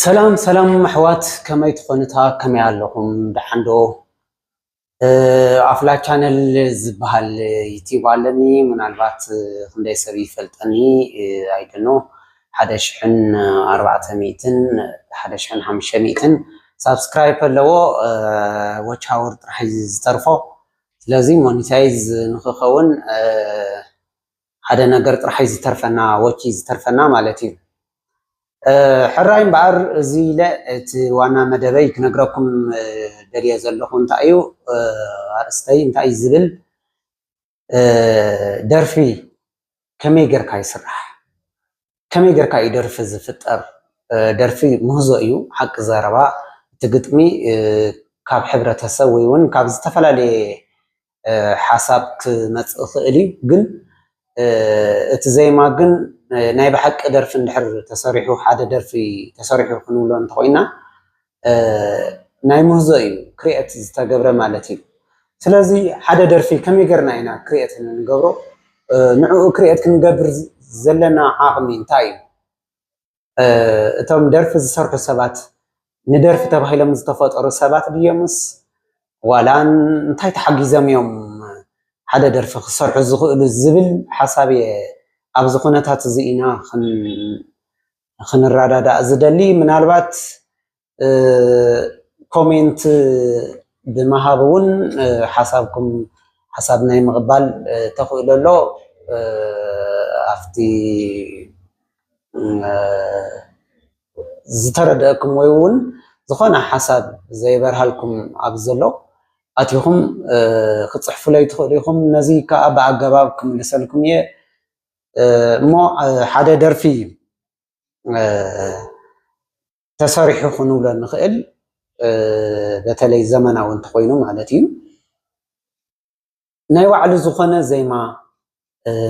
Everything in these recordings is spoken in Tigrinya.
ሰላም ሰላም ኣሕዋት ከመይ ትኾኑታ ከመይ ኣለኹም ደሓን ዶ ኣፍላ ቻነል ዝበሃል ዩቲዩብ ኣለኒ ምናልባት ክንደይ ሰብ ይፈልጠኒ ኣይደኖ ሓደ ሽሕን ኣርባዕተ ሚእትን ሓደ ሽሕን ሓምሽተ ሚእትን ሳብስክራይብ ከለዎ ዎች ሃውር ጥራሕ እዩ ዝተርፎ ስለዚ ሞኒታይዝ ንክኸውን ሓደ ነገር ጥራሕ እዩ ዝተርፈና ዎች እዩ ዝተርፈና ማለት እዩ ሕራይ እምበኣር እዚ ኢለ እቲ ዋና መደበይ ክነግረኩም ደልየ ዘለኹ እንታይ እዩ ኣርእስተይ እንታይ እዩ ዝብል ደርፊ ከመይ ጌርካ ይስራሕ? ከመይ ጌርካ እዩ ደርፊ ዝፍጠር? ደርፊ ምህዞ እዩ ሓቂ ዘረባ እቲ ግጥሚ ካብ ሕብረተሰብ ወይ እውን ካብ ዝተፈላለየ ሓሳብ ክመፅእ ይኽእል እዩ። ግን እቲ ዜማ ግን ናይ ብሓቂ ደርፊ እንድሕር ተሰሪሑ ሓደ ደርፊ ተሰሪሑ ክንብሎ እንተኾይና ናይ ምህዞ እዩ ክርኤት ዝተገብረ ማለት እዩ። ስለዚ ሓደ ደርፊ ከመይ ገርና ኢና ክርኤት ንገብሮ ንዕኡ ክርኤት ክንገብር ዘለና ዓቅሚ እንታይ እዩ? እቶም ደርፊ ዝሰርሑ ሰባት ንደርፊ ተባሂሎም ዝተፈጠሩ ሰባት ድዮምስ ዋላ እንታይ ተሓጊዞም እዮም ሓደ ደርፊ ክሰርሑ ዝኽእሉ ዝብል ሓሳብ እየ ኣብዚ ኩነታት እዚ ኢና ንክንረዳዳእ ዝደሊ ምናልባት ኮሜንት ብምሃብ እውን ሓሳብኩም ሓሳብ ናይ ምቕባል ተኽእሎ ኣሎ ኣብቲ ዝተረደአኩም ወይ እውን ዝኾነ ሓሳብ ዘይበርሃልኩም ኣብ ዘሎ ኣትኹም ክፅሕፉለይ ትኽእሉ ኢኹም ነዚ ከዓ ብኣገባብ ክምልሰልኩም እየ እሞ ሓደ ደርፊ ተሰሪሑ ክንብሎ ንኽእል በተለይ ዘመናዊ እንተኾይኑ ማለት እዩ ናይ ባዕሉ ዝኾነ ዜማ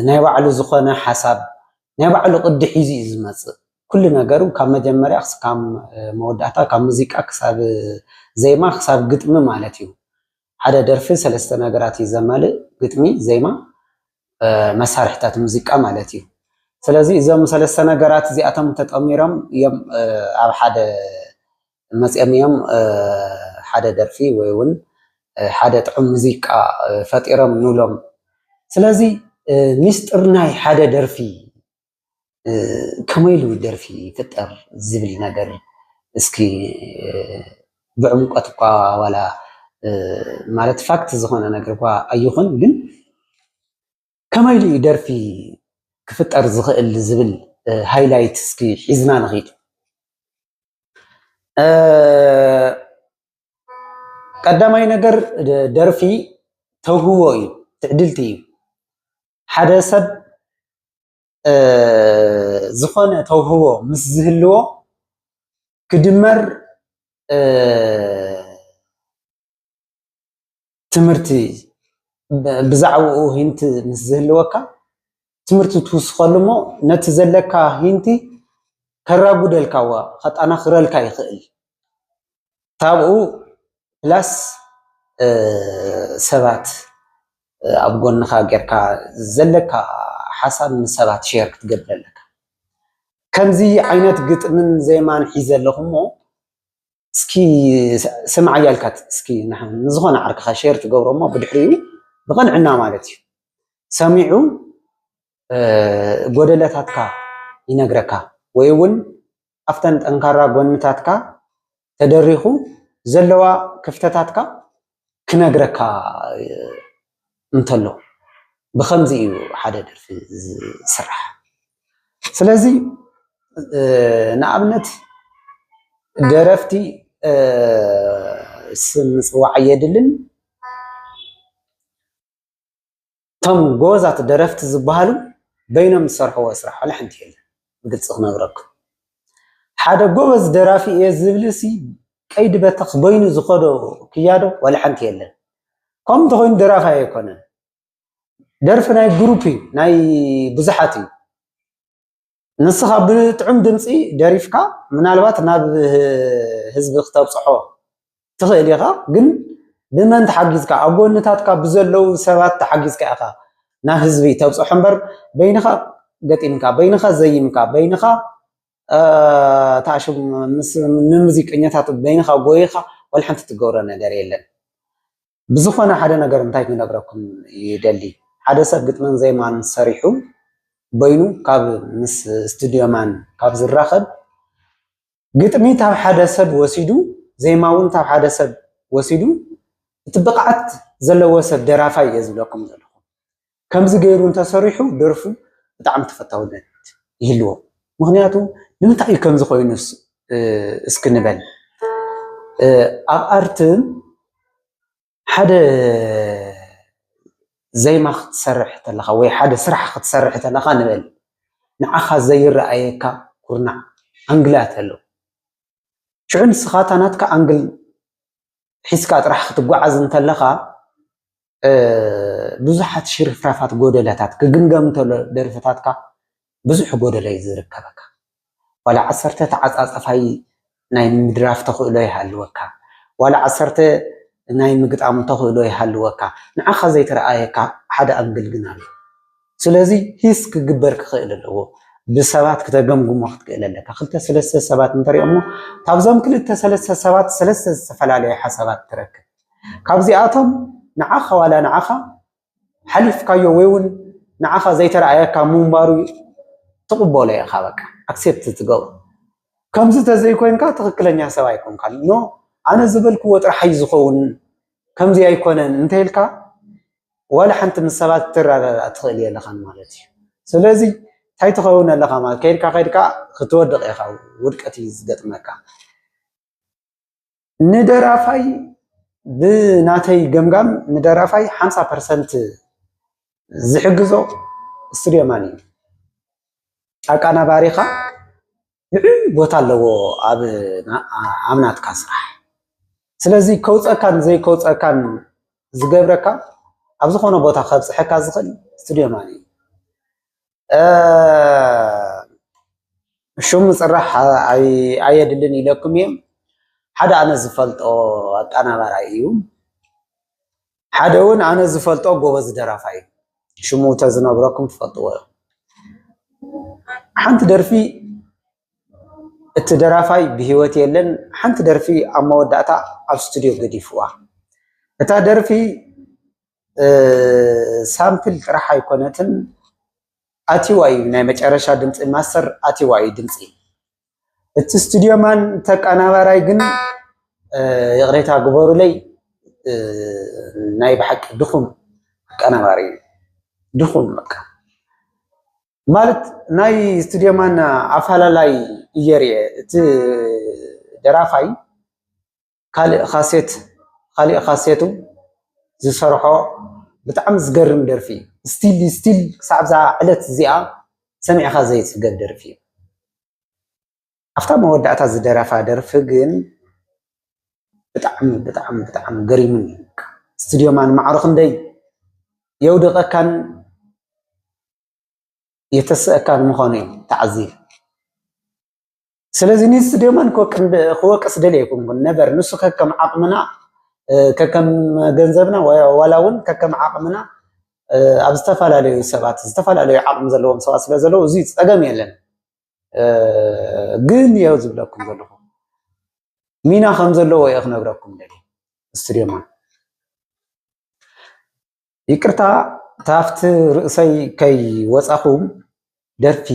ናይ ባዕሉ ዝኾነ ሓሳብ ናይ ባዕሉ ቅዲ ሒዙ እዩ ዝመፅእ ኩሉ ነገሩ ካብ መጀመርያ ክስካብ መወዳእታ ካብ ሙዚቃ ክሳብ ዜማ ክሳብ ግጥሚ ማለት እዩ ሓደ ደርፊ ሰለስተ ነገራት እዩ ዘማልእ፣ ግጥሚ፣ ዜማ፣ መሳርሕታት ሙዚቃ ማለት እዩ። ስለዚ እዞም ሰለስተ ነገራት እዚኣቶም ተጠሚሮም እዮም ኣብ ሓደ መፂኦም እዮም ሓደ ደርፊ ወይ እውን ሓደ ጥዑም ሙዚቃ ፈጢሮም ንብሎም። ስለዚ ሚስጥር ናይ ሓደ ደርፊ ከመይ ኢሉ ደርፊ ይፍጠር ዝብል ነገር እስኪ ብዕምቆት እኳ ዋላ ማለት ፋክት ዝኾነ ነገር እኳ ኣይኹን፣ ግን ከመይ ኢሉ ደርፊ ክፍጠር ዝኽእል ዝብል ሃይላይት እስኪ ሒዝና ንኺድ። ቀዳማይ ነገር ደርፊ ተውህቦ እዩ፣ ትዕድልቲ እዩ። ሓደ ሰብ ዝኾነ ተውህቦ ምስ ዝህልዎ ክድመር ትምህርቲ ብዛዕባኡ ሂንቲ ምስ ዝህልወካ ትምህርቲ ትውስኸሉ እሞ ነቲ ዘለካ ሂንቲ ከራጉደልካ ዋ ከጠናኽረልካ ይኽእል። ካብኡ ፕላስ ሰባት ኣብ ጎንኻ ጌርካ ዘለካ ሓሳብ ምስ ሰባት ሼር ክትገብር ኣለካ። ከምዚ ዓይነት ግጥምን ዜማን ሒዘ ኣለኹ እሞ እስኪ ስምዓያ ኢልካ እስኪ ንዝኾነ ዓርክኻ ሼር ትገብሮ እሞ ብድሕሪኡ ብቕንዕና ማለት እዩ ሰሚዑ ጎደለታትካ ይነግረካ ወይ እውን ኣብተን ጠንካራ ጎንታትካ ተደሪኹ ዘለዋ ክፍተታትካ ክነግረካ እንተሎ ብከምዚ እዩ ሓደ ደርፊ ዝስራሕ። ስለዚ ንኣብነት ደረፍቲ ስም ምፅዋዕ የድልን። እቶም ጎበዛት ደረፍቲ ዝበሃሉ በይኖም ዝሰርሕዎ ስራሕ ዋላ ሓንቲ የለን። ብግልፂ ክነግረኩም ሓደ ጎበዝ ደራፊ እየ ዝብልሲ ቀይዲ በተኽ በይኑ ዝኸዶ ክያዶ ዋላ ሓንቲ የለን። ከምኡ እንተኾይኑ ደራፊ ኣይኮነን። ደርፊ ናይ ግሩፕ እዩ፣ ናይ ብዙሓት እዩ። ንስኻ ብጥዑም ድምፂ ደሪፍካ ምናልባት ናብ ህዝቢ ክተብፅሖ ትኽእል ኢኻ፣ ግን ብመን ተሓጊዝካ ኣብ ጎንታትካ ብዘለዉ ሰባት ተሓጊዝካ ኢኻ ናብ ህዝቢ ተብፅሖ እምበር በይንኻ ገጢምካ በይንኻ ዘይምካ በይንኻ ተኣሽም ንሙዚቀኛታት በይንኻ ጎይኻ ወላ ሓንቲ ትገብሮ ነገር የለን። ብዝኾነ ሓደ ነገር እንታይ ክነግረኩም ይደሊ ሓደ ሰብ ግጥምን ዜማን ሰሪሑ በይኑ ካብ ምስ ስቱድዮ ማን ካብ ዝራኸብ ግጥሚ ካብ ሓደ ሰብ ወሲዱ ዜማ እውን ካብ ሓደ ሰብ ወሲዱ እቲ ብቕዓት ዘለዎ ሰብ ደራፋይ እየ ዝብለኩም ዘለኹ። ከምዚ ገይሩ እንተሰሪሑ ደርፉ ብጣዕሚ ተፈታውነት ይህልዎ። ምክንያቱ ንምንታይ እዩ ከምዚ ኮይኑ እስኪ ንበል ኣብ ኣርትን ሓደ ዜማ ክትሰርሕ ተለካ ወይ ሓደ ስራሕ ክትሰርሕ ተለካ ንበል ንዓካ ዘይረኣየካ ኩርናዕ ኣንግላት ኣሎ ሽዑ ንስካ እታ ናትካ ኣንግል ሒዝካ ጥራሕ ክትጓዓዝ እንተለኻ ብዙሓት ሽርፍራፋት ጎደለታት ክግምገም እንተሎ ደርፍታትካ ብዙሕ ጎደሎ እዩ ዝርከበካ ዋላ ዓሰርተ ተዓፃፃፋይ ናይ ምድራፍ ተኽእሎ ይሃልወካ ዋላ ዓሰርተ ናይ ምግጣም ተኽእሎ ይሃልወካ ንዓኻ ዘይተረኣየካ ሓደ ኣንግል ግን ኣሎ ስለዚ ሂስ ክግበር ክኽእል ኣለዎ። ብሰባት ክተገምግሞ ክትክእል ኣለካ። ክልተ ሰለስተ ሰባት እንተሪኦሞ ካብዞም ክልተ ሰለስተ ሰባት ሰለስተ ዝተፈላለዩ ሓሳባት ትረክብ። ካብዚኣቶም ንዓኻ ዋላ ንዓኻ ሓሊፍካዮ ወይ እውን ንዓኻ ዘይተረኣየካ ምንባሩ ትቕበሎ ኢኻ በቃ ኣክሴፕት ትገብሮ። ከምዚ ተዘይኮይንካ ትኽክለኛ ሰብ ኣይኮንካን። ኖ ኣነ ዝበልክዎ ጥራሕ እዩ ዝኸውን ከምዚ ኣይኮነን እንተይልካ ዋላ ሓንቲ ምስ ሰባት ክትረዳዳእ ትኽእል የለኻን ማለት እዩ። ስለዚ እንታይ ትኸውን ኣለኻ ማለት ከይድካ ከይድካ ክትወድቕ ኢኻ፣ ውድቀት እዩ ዝገጥመካ። ንደራፋይ ብናተይ ገምጋም ንደራፋይ ሓምሳ ፐርሰንት ዝሕግዞ ስቱድዮ ማን እዩ ኣቃናባሪኻ ልዑል ቦታ ኣለዎ ኣብ ናትካ ስራሕ ስለዚ ከውፀካን ዘይከውፀካን ዝገብረካ ኣብ ዝኾነ ቦታ ከብፅሐካ ዝኽእል ስቱድዮ ማን እዩ ሽሙ ፅራሕ ኣየድልን ኢለኩም እየ ሓደ ኣነ ዝፈልጦ ኣቀናባራይ እዩ ሓደ እውን ኣነ ዝፈልጦ ጎበዝ ደራፋይ ሽሙ ተዝነግረኩም ትፈልጥዎ ኢኹም። ሓንቲ ደርፊ እቲ ደራፋይ ብሂወት የለን። ሓንቲ ደርፊ ኣብ መወዳእታ ኣብ ስቱድዮ ገዲፍዋ። እታ ደርፊ ሳምፕል ጥራሕ ኣይኮነትን ኣትዋ እዩ ናይ መጨረሻ ድምፂ ማስተር ኣትዋ እዩ ድምፂ እቲ ስቱድዮ ማን ተቀናባራይ ግን ይቅሬታ ግበሩለይ ናይ ብሓቂ ድኹም ኣቀናባሪ እዩ ድኹም በቃ ማለት ናይ ስቱድዮ ማን ኣፈላላይ እየ ሪኤ እቲ ደራፋይ ካልእ ካሴት ኻሊእ ካሴቱ ዝሰርሖ ብጣዕሚ ዝገርም ደርፊ እዩ። ስቲል ስቲል ክሳዕ እዛ ዕለት እዚኣ ሰሚዕኻ ዘይጽገብ ደርፊ እዩ። ኣብታ መወዳእታ ዝደረፋ ደርፊ ግን ብጣዕሚ ብጣዕሚ ብጣዕሚ ገሪሙኒ እዩ። ስቱድዮ ማን ማዕሮ ክንደይ የውድቐካን የተስእካን ምዃኑ እዩ ተዓዚብ ስለዚ ኒስ ደመን ክወቅስ ደል ኣይኮንኩን ነበር ንሱ ከከም ዓቕምና ከከም ገንዘብና ዋላ እውን ከከም ዓቕምና ኣብ ዝተፈላለዩ ሰባት ዝተፈላለዩ ዓቕሚ ዘለዎም ሰባት ስለ ዘለዉ እዚ ፀገም የለን ግን እዮ ዝብለኩም ዘለኹ ሚና ከም ዘለዎ እየ ክነግረኩም ደል ስቱድዮ ማን ይቅርታ ታፍቲ ርእሰይ ከይ ወጻኹ ደርፊ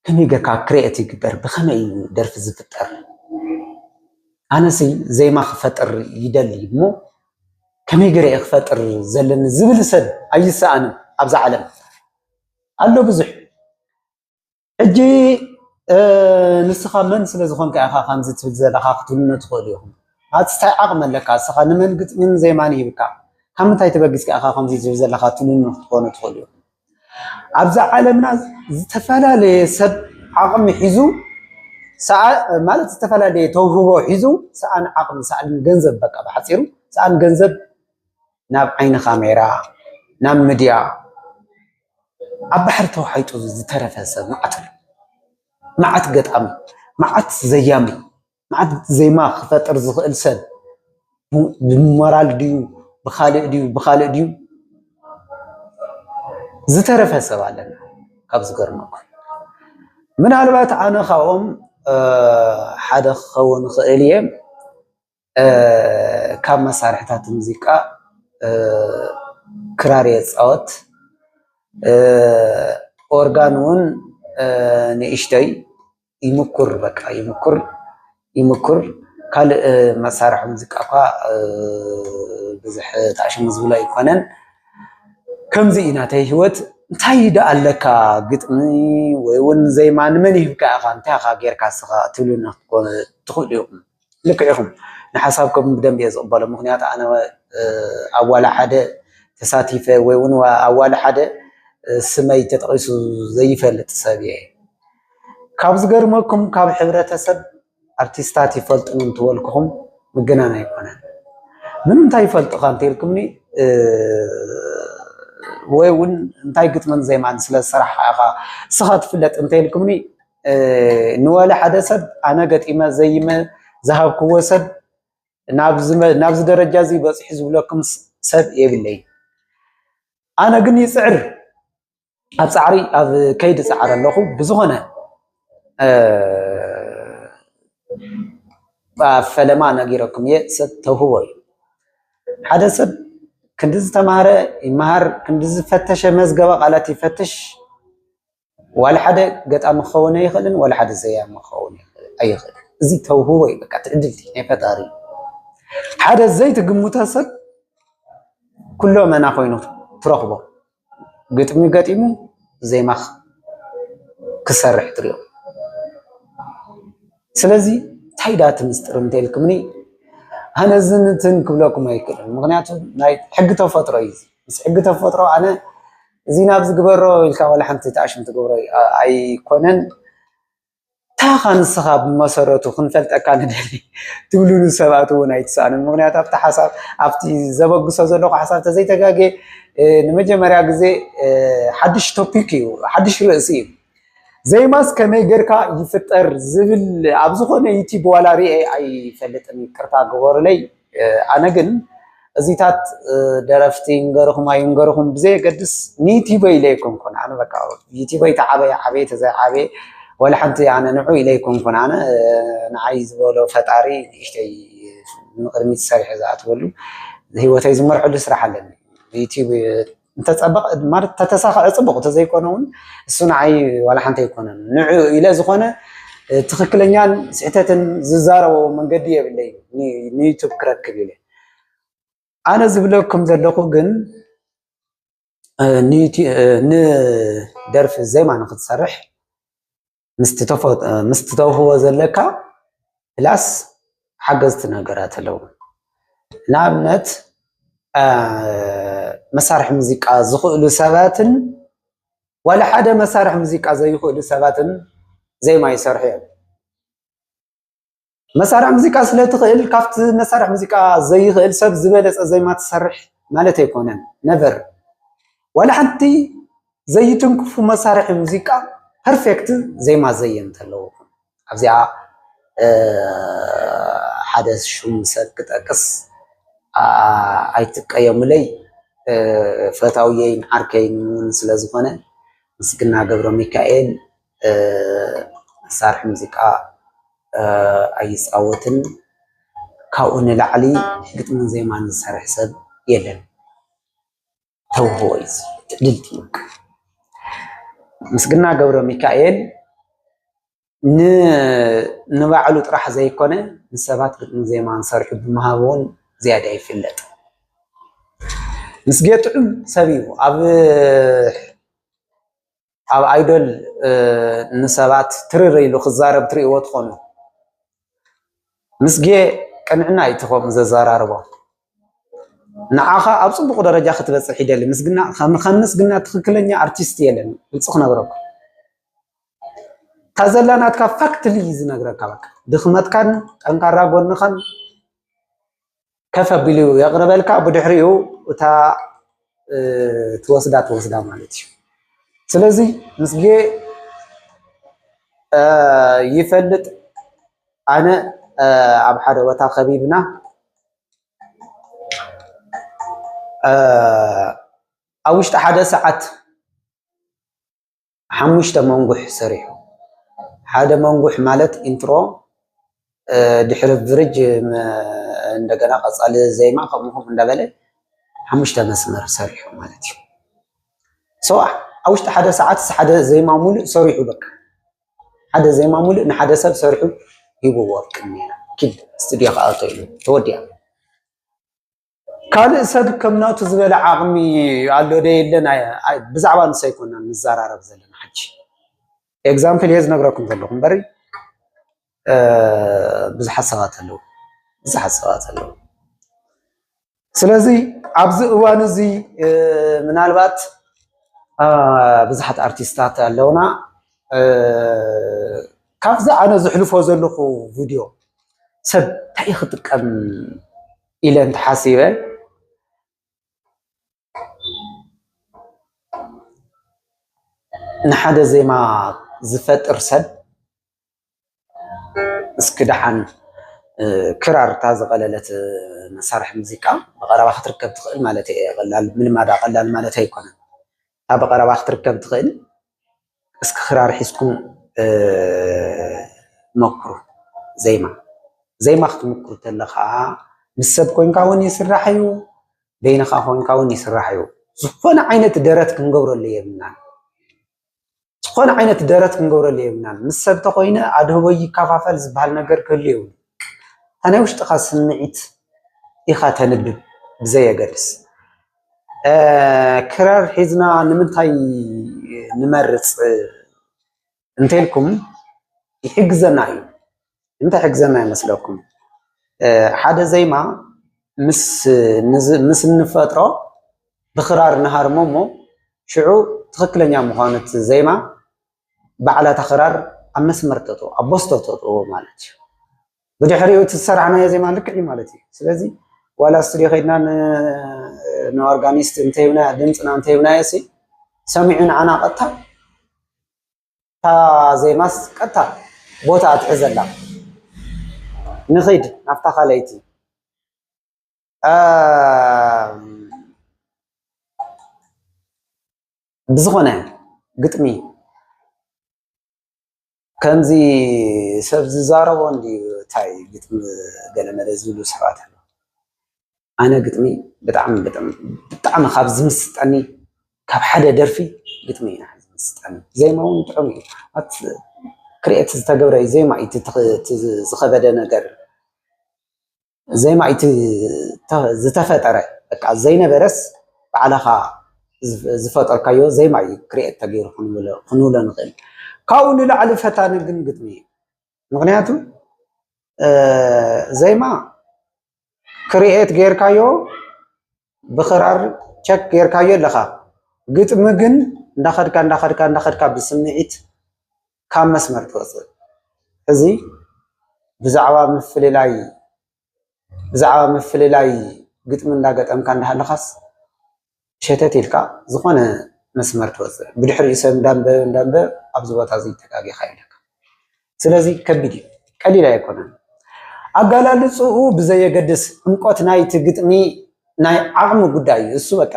ከመይ ገርካ ክሬኤት ይግበር ብከመይ እዩ ደርፊ ዝፍጠር ኣነሲ ዜማ ክፈጥር ይደሊ እሞ ከመይ ገረ እየ ክፈጥር ዘለኒ ዝብል ሰብ ኣይሰኣንን ኣብዛ ዓለም ኣሎ ብዙሕ ሕጂ ንስኻ መን ስለ ዝኾንካ ኢኻ ከምዚ ትብል ዘለኻ ክትብሉኒ ትኽእሉ ኢኹም። ኣቲ ታይ ዓቅሚ ኣለካ እስኻ ንመን ግጥሚን ዜማን ሂብካ ካብ ምንታይ ተበጊስካ ኢኻ ከምዚ ትብል ዘለኻ ትብሉኒ ክትኮኑ ትኽእሉ ኢኹም። ኣብዚ ዓለምና ዝተፈላለየ ሰብ ዓቕሚ ሒዙ ማለት ዝተፈላለየ ተውህቦ ሒዙ ሰኣን ዓቕሚ ሰኣን ገንዘብ በቃ ብሓፂሩ ሰኣን ገንዘብ ናብ ዓይኒ ካሜራ ናብ ምድያ ኣብ ባሕሪ ተዋሒጡ ዝተረፈ ሰብ መዓት ኣሎ። መዓት ገጣሚ፣ መዓት ዘያሚ፣ መዓት ዜማ ክፈጥር ዝኽእል ሰብ ብሞራል ድዩ ብኻልእ ድዩ ብኻልእ ድዩ ዝተረፈ ሰብ ኣለና ካብ ዝገርመኩም። ምናልባት ኣነ ካብኦም ሓደ ክኸውን ይኽእል እየ። ካብ መሳርሕታት ሙዚቃ ክራር እየ ዝፃወት። ኦርጋን እውን ንእሽተይ ይምኩር በቃ ይምኩር ይምኩር ካልእ መሳርሒ ሙዚቃ እኳ ብዙሕ ታእሽሙ ዝብሎ ኣይኮነን። ከምዚ እዩ ናተይ ህይወት እንታይ ደኣ ኣለካ ግጥሚ ወይ እውን ዜማ ንመን ሂብካ ኢኻ እንታይ ኢኻ ጌርካ ንስኻ ክትብሉኒ ትኽእሉ ኢኹም። ልክዕ ኢኹም ንሓሳብኩም ብደንቢ እየ ዝቕበሎ ምኽንያቱ ኣነ ኣብ ዋላ ሓደ ተሳቲፈ ወይ እውን ኣብ ዋላ ሓደ ስመይ ተጠቒሱ ዘይፈልጥ ሰብ እየ ካብ ዝገርመኩም ካብ ሕብረተሰብ ኣርቲስታት ይፈልጡን እንትበልኩኹም ምግናን ኣይኮነን ምንታይ ይፈልጡኻ እንተልኩምኒ ወይ እውን እንታይ ግጥምን ዜማን ስለ ዝሰራሕካ ኢኻ ንስኻ ትፍለጥ እንተልኩምኒ ንወለ ሓደ ሰብ ኣነ ገጢመ ዘይመ ዝሃብክዎ ሰብ ናብዚ ደረጃ እዚ በፂሑ ዝብለኩም ሰብ የብለይ። ኣነ ግን ይፅዕር ኣብ ፃዕሪ ኣብ ከይዲ ፃዕር ኣለኹ ብዝኾነ ኣብ ፈለማ ነጊረኩም እየ ሰብ ተውህቦ እዩ ሓደ ሰብ ክንዲ ዝተማሃረ ይመሃር ክንዲ ዝፈተሸ መዝገበ ቃላት ይፈትሽ ዋላ ሓደ ገጣሚ ክኸውን ኣይኽእልን፣ ዋላ ሓደ ዘያሚ ክኸውን ኣይኽእልን። እዚ ተውህቦ እዩ፣ በቃ ትዕድልቲ ናይ ፈጣሪ እዩ። ሓደ ዘይትግምቶ ሰብ ኩሎ መና ኮይኑ ትረኽቦ ግጥሚ ገጢሙ ዜማ ክሰርሕ ትሪኦ። ስለዚ እንታይ ዳ እቲ ምስጢር እንተልኩምኒ ኣነ ዝንትን ክብለኩም ኣይክእልን፣ ምክንያቱ ናይ ሕጊ ተፈጥሮ እዩ። ምስ ሕጊ ተፈጥሮ ኣነ እዚ ናብዚ ግበሮ ኢልካ ዋላ ሓንቲ ተኣሽም ትገብሮ ኣይኮነን። እንታይ ኢኻ ንስኻ ብመሰረቱ ክንፈልጠካ ንደሊ ትብልሉ ሰባት እውን ኣይትሰኣኑን። ምክንያቱ ኣብቲ ሓሳብ ኣብቲ ዘበግሶ ዘለኹ ሓሳብ ተዘይተጋጌ ንመጀመርያ ግዜ ሓድሽ ቶፒክ እዩ፣ ሓድሽ ርእሲ እዩ። ዘይማስ ከመይ ጌርካ ይፍጠር ዝብል ኣብ ዝኾነ ዩቲብ ዋላ ርኤ ኣይፈልጥን፣ ይቅርታ ግበሩለይ። ኣነ ግን እዚታት ደረፍቲ ይንገርኹም ኣይንገርኹም ብዘየገድስ ንዩቲበይ ኢለ ኣይኮንኩን ኣነ በቃ ዩቲበይ ተዓበየ ዓበየ ተዘይዓበየ ወላ ሓንቲ ኣነ ንዑ ኢለ ኣይኮንኩን ኣነ ንዓይ ዝበሎ ፈጣሪ ንእሽተይ ንቕድሚት ሰሪሐ ዝኣትወሉ ህይወተይ ዝመርሐሉ ስራሕ ኣለኒ ዩቲብ እንተፀበቐ ማለት ተተሳኸዐ ፅቡቕ ተዘይኮነ እውን እሱ ንዓይ ዋላ ሓንቲ ኣይኮነን ንዑ ኢለ ዝኾነ ትክክለኛን ስሕተትን ዝዛረቦ መንገዲ የብለይ ንዩቱብ ክረክብ ኢለ ኣነ ዝብለኩም ዘለኹ ግን ንደርፊ ዜማ ንክትሰርሕ ምስ ትተውህቦ ዘለካ ፕላስ ሓገዝቲ ነገራት ኣለዉ። ንኣብነት መሳርሒ ሙዚቃ ዝኽእሉ ሰባትን ዋላ ሓደ መሳርሒ ሙዚቃ ዘይኽእሉ ሰባትን ዜማ ይሰርሑ እዮም። መሳርሒ ሙዚቃ ስለ ትኽእል ካብቲ መሳርሒ ሙዚቃ ዘይኽእል ሰብ ዝበለፀ ዜማ ትሰርሕ ማለት ኣይኮነን ነቨር ዋላ ሓንቲ ዘይትንክፉ መሳርሒ ሙዚቃ ፐርፌክት ዜማ ዘየምት ኣለዎ ኣብዚኣ ሓደ ሹም ሰብ ክጠቅስ ኣይትቀየሙለይ ፈታውየይን ዓርከይን እውን ስለዝኾነ ምስግና ገብረ ሚካኤል መሳርሒ ሙዚቃ ኣይፃወትን ካብኡ ንላዕሊ ግጥምን ዜማን ዝሰርሕ ሰብ የለን ተውህቦ እዩ እዚ ትእልልቲ እዩ በቃ። ምስግና ገብረሚካኤል ንባዕሉ ጥራሕ ዘይኮነ ንሰባት ግጥምን ዜማን ሰርሑ ብምሃብ እውን ዝያዳ ይፍለጥ። ምስጌ ጥዑም ሰብ እዩ ኣብ ኣብ ኣይዶል ንሰባት ትርር ኢሉ ክዛረብ ትርእይዎ ትኾኑ። ምስጌ ቅንዕና እዩ እቲ ከምኡ ዘዘራርቦ። ንዓኻ ኣብ ጽቡቕ ደረጃ ክትበጽሕ ይደሊ። ምስግና ከም ምስግና ትኽክለኛ ኣርቲስት የለን። ግልጺ ክነግረኩም እታ ዘላ ናትካ ፋክትሊ ዝነግረካ በቃ ድኽመትካን ጠንካራ ጎንኻን ከፍ ኣቢሉ የቕርበልካ ብድሕሪኡ እታ ትወስዳ ትወስዳ ማለት እዩ ስለዚ ምስጌ ይፈልጥ ኣነ ኣብ ሓደ ቦታ ከቢብና ኣብ ውሽጢ ሓደ ሰዓት ሓሙሽተ መንጉሕ ሰሪሑ። ሓደ መንጉሕ ማለት ኢንትሮ ድሕሪ ብርጅ እንደገና ቀጻሊ ዜማ ከምኡ ከምኡ እንዳበለ ሓሙሽተ መስመር ሰሪሑ ማለት እዩ። ሶ ኣብ ውሽጢ ሓደ ሰዓት ሓደ ዜማ ሙሉእ ሰሪሑ በቃ ሓደ ዜማ ሙሉእ ንሓደ ሰብ ሰሪሑ ሂብዎ ቅድሜና ኪድ ስቱድዮ ክኣቶ ኢሉ ተወዲኣ። ካልእ ሰብ ከም ናቱ ዝበለ ዓቕሚ ኣሎ ዶ የለን ብዛዕባ ንሱ ኣይኮናን ንዘራረብ ዘለና ሕጂ ኤግዛምፕል እየ ዝነግረኩም ዘለኹ እምበር ብዙሓት ሰባት ኣለዉ ብዙሓት ሰባት ኣለዉ ስለዚ ኣብዚ እዋን እዚ ምናልባት ብዙሓት ኣርቲስታት ኣለውና ካብዚ ኣነ ዝሕልፎ ዘለኹ ቪድዮ ሰብ እንታይ ክጥቀም ኢለ እንተሓሲበ ንሓደ ዜማ ዝፈጥር ሰብ እስኪ ደሓን ክራር እታ ዝቐለለት መሳርሒ ሙዚቃ ብቐረባ ክትርከብ ትኽእል ማለት እየ። ቀላል ምልማዳ ቀላል ማለት ኣይኮነን። እታ ብቐረባ ክትርከብ ትኽእል እስኪ ክራር ሒዝኩም ሞክሩ ዜማ ዜማ ክትምኩር ከለካ ምስ ሰብ ኮይንካ ውን ይስራሕ እዩ በይንካ ኮይንካ ውን ይስራሕ እዩ ዝኮነ ዓይነት ደረት ክንገብረሉ የብልናን ዝኮነ ዓይነት ደረት ክንገብረሉ የብልናን ምስ ሰብ ተኮይነ ኣድህቦ ይከፋፈል ዝበሃል ነገር ክህሉ የብሉን ናይ ውሽጥካ ስምዒት ኢካ ተንብብ ብዘየገድስ ክራር ሒዝና ንምንታይ ንመርፅ እንተልኩም ይሕግዘና እዩ። ንምንታይ ይሕግዘና ይመስለኩም? ሓደ ዜማ ምስ እንፈጥሮ ብክራር ንሃርሞ እሞ ሽዑ ትኽክለኛ ምዃኑ እቲ ዜማ ባዕላ እታ ክራር ኣብ መስመር ተእትዎ ኣብ ቦዝቶ ተእትዎ ማለት እዩ። ብድሕሪኡ እቲ ዝሰራሕናዮ ዜማ ልክዕ እዩ ማለት እዩ። ስለዚ ዋላ ስቱድዮ ከይድና ንኦርጋኒስት እንተይብናዮ ድምፅና እንተይብናዮ ሲ ሰሚዑ ንዓና ቀጥታ እታ ዜማስ ቀጥታ ቦታ ትሕዘላ ንኺድ ናብታ ካልኣይቲ ብዝኾነ ግጥሚ ከምዚ ሰብ ዝዛረቦ እንድዩ ታይ ግጥሚ ገለመለ ዝብሉ ሰባት ኣለዉ ኣነ ግጥሚ ብጣዕሚ ብጣዕሚ ብጣዕሚ ካብ ዝምስጠኒ ካብ ሓደ ደርፊ ግጥሚ እዩ ንዓይ ዝምስጠኒ ዜማ ውን ጥዑም እዩ ኣቲ ክርኤት ዝተገብረ ዜማ እዩ እቲ ዝኸበደ ነገር ዜማ እቲ ዝተፈጠረ በቃ ዘይነበረስ ባዕልኻ ዝፈጠርካዮ ዜማ እዩ ክሪኤት ተገይሩ ክንብሎ ንኽእል። ካብኡ ንላዕሊ ፈታኒ ግን ግጥሚ እዩ። ምኽንያቱ ዜማ ክሪኤት ገይርካዮ ብክራር ቸክ ጌርካዮ ኣለኻ ግጥሚ ግን እንዳኸድካ እንዳኸድካ እንዳኸድካ ብስምዒት ካብ መስመር ትወፅእ እዚ ብዛዕባ ምፍልላይ ብዛዕባ ምፍልላይ ግጥሚ እንዳገጠምካ እንዳሃለኻስ ሸተት ኢልካ ዝኾነ መስመር ትወፅእ ብድሕሪኡ ሰብ እንዳንበበ እንዳንበበ ኣብዚ ቦታ እዚ ተጋጊኻ ኢለካ ስለዚ ከቢድ እዩ፣ ቀሊል ኣይኮነን። ኣጋላልጽኡ ብዘየገድስ ዕምቆት ናይቲ ግጥሚ ናይ ዓቕሚ ጉዳይ እዩ። እሱ በቃ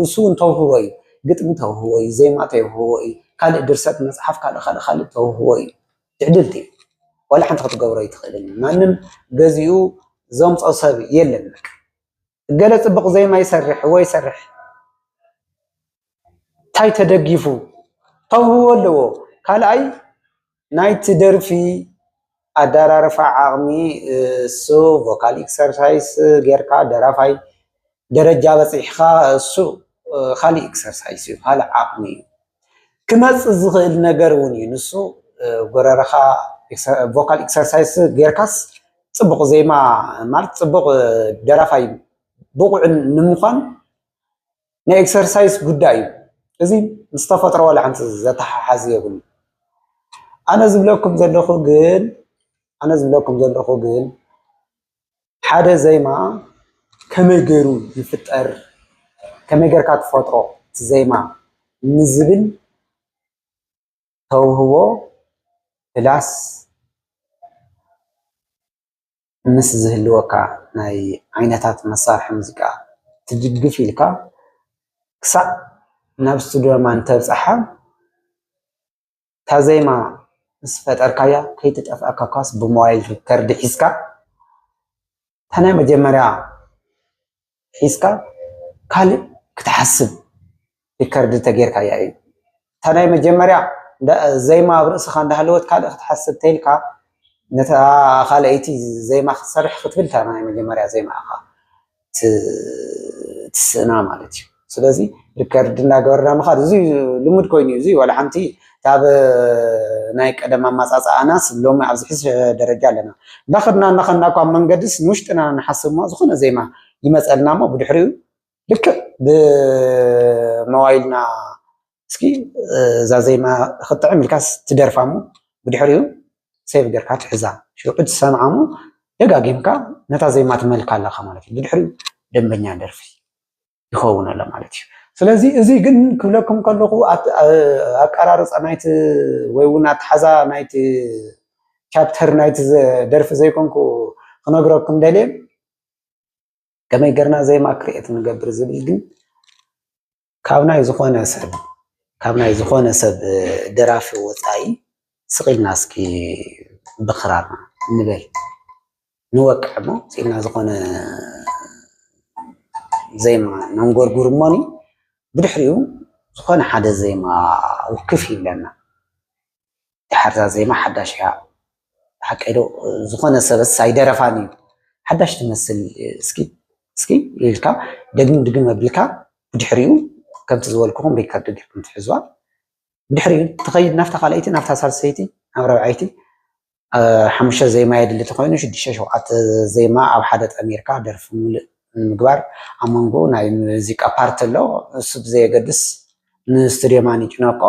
እሱ እውን ተውህቦ እዩ። ግጥሚ ተውህቦ እዩ፣ ዜማ ተውህቦ እዩ፣ ካልእ ድርሰት መጽሓፍ ካልእ ካልእ ካልእ ተውህቦ እዩ። ትዕድልቲ እዩ። ዋላ ሓንቲ ክትገብሮ ኣይትኽእልን። ማንም ገዚኡ ዘምጾ ሰብ የለን። ገለ ፅቡቕ ዜማ ይሰርሕ እወ ይሰርሕ እንታይ ተደጊፉ ተውህቦ ኣለዎ ካልኣይ ናይቲ ደርፊ ኣደራርፋ ዓቕሚ እሱ ቮካል ኤክሰርሳይስ ጌርካ ደራፋይ ደረጃ በፂሕኻ እሱ ኻሊእ ኤክሰርሳይስ እዩ ኻሊእ ዓቕሚ እዩ። ክመጽእ ዝኽእል ነገር እውን እዩ ንሱ ጎረረኻ ቮካል ኤክሰርሳይስ ጌርካስ ጽቡቕ ዜማ ማለት ጽቡቕ ደራፋይ ብቑዕ ንምዃን ናይ ኤክሰርሳይስ ጉዳይ እዩ እዚ ምስ ተፈጥሮ ዋላ ሓንቲ ዘተሓሓዝ የብሉ ኣነ ዝብለኩም ዘለኹ ግን ኣነ ዝብለኩም ዘለኹ ግን ሓደ ዜማ ከመይ ገይሩ ይፍጠር፣ ከመይ ገይርካ ትፈጥሮ እቲ ዜማ ንዝብል ተውህቦ ፕላስ ምስ ዝህልወካ ናይ ዓይነታት መሳርሒ ሙዚቃ ትድግፍ ኢልካ ክሳዕ ናብ ስቱድዮ እንተብፅሓ ታዜማ ምስ ፈጠርካያ ከይትጠፍኣካ ኳስ ብሞባይል ሪከርድ ሒዝካ እታ ናይ መጀመርያ ሒዝካ ካልእ ክትሓስብ ሪከርድ ተጌርካያ እዩ። እታ ናይ መጀመርያ ዜማ ኣብ ርእስኻ እንዳሃለወት ካልእ ክትሓስብ ተይልካ ነታ ካልኣይቲ ዜማ ክትሰርሕ ክትብል እታ ናይ መጀመርያ ዜማኻ ትስእና ማለት እዩ ስለዚ ሪከርድ እንዳገበርና ምኻድ እዚ ልሙድ ኮይኑ እዩ እዚ ዋላ ሓንቲ ካብ ናይ ቀደም ኣማፃፅኣናስ ሎሚ ኣብዚ ሕዚ ደረጃ ኣለና እንዳኸድና እናኸድና እኳ መንገድስ ንውሽጥና ንሓስብ እሞ ዝኾነ ዜማ ይመፀልና እሞ ብድሕሪኡ ልክዕ ብመዋይልና እስኪ እዛ ዜማ ክትጥዕም ኢልካስ ትደርፋ እሞ ብድሕሪኡ ሴቭ ጌርካ ትሕዛ ሽዑ ክትሰምዓ እሞ ደጋጊምካ ነታ ዜማ ትመልካ ኣለካ ማለት እዩ ብድሕሪኡ ደንበኛ ደርፊ ይኸውን ኣሎ ማለት እዩ ስለዚ እዚ ግን ክብለኩም ከለኹ ኣቀራርፃ ናይቲ ወይ እውን ኣትሓዛ ናይቲ ቻፕተር ናይቲ ደርፊ ዘይኮንኩ ክነግረኩም ደልየ ከመይ ገርና ዜማ ክርኤት ንገብር ዝብል ግን ካብ ናይ ዝኾነ ሰብ ካብ ናይ ዝኾነ ሰብ ደራፊ ወፃኢ ስቕ ኢልና እስኪ ብኽራርና ንበል ንወቅዕ እሞ ስቕ ኢልና ዝኾነ ዜማ ነንጎርጉር እሞኒ ብድሕሪኡ ዝኾነ ሓደ ዜማ ውክፍ ይብለና። ድሓር እዛ ዜማ ሓዳሽ እያ ሓቀይ ዶ ዝኾነ ሰበስ ኣይደረፋን እዩ ሓዳሽ ትመስል እስኪ እስኪ ኢልካ ደግም ድግም ኣቢልካ ብድሕሪኡ ከምቲ ዝበልኩኹም ሪከርድ ጌርኩም ትሕዝዋ ብድሕሪኡ ትኸይድ ናብታ ካልኣይቲ ናብታ ሳልሰይቲ ናብ ረብዓይቲ ሓሙሽተ ዜማ የድሊ ተኮይኑ ሽዱሽተ ሸውዓተ ዜማ ኣብ ሓደ ጠሚርካ ደርፊ ሙሉእ ንምግባር ኣብ መንጎ ናይ ሙዚቃ ፓርቲ ኣሎ እሱ ብዘየገድስ ንስቱድዮ ማኒጅ ነቆ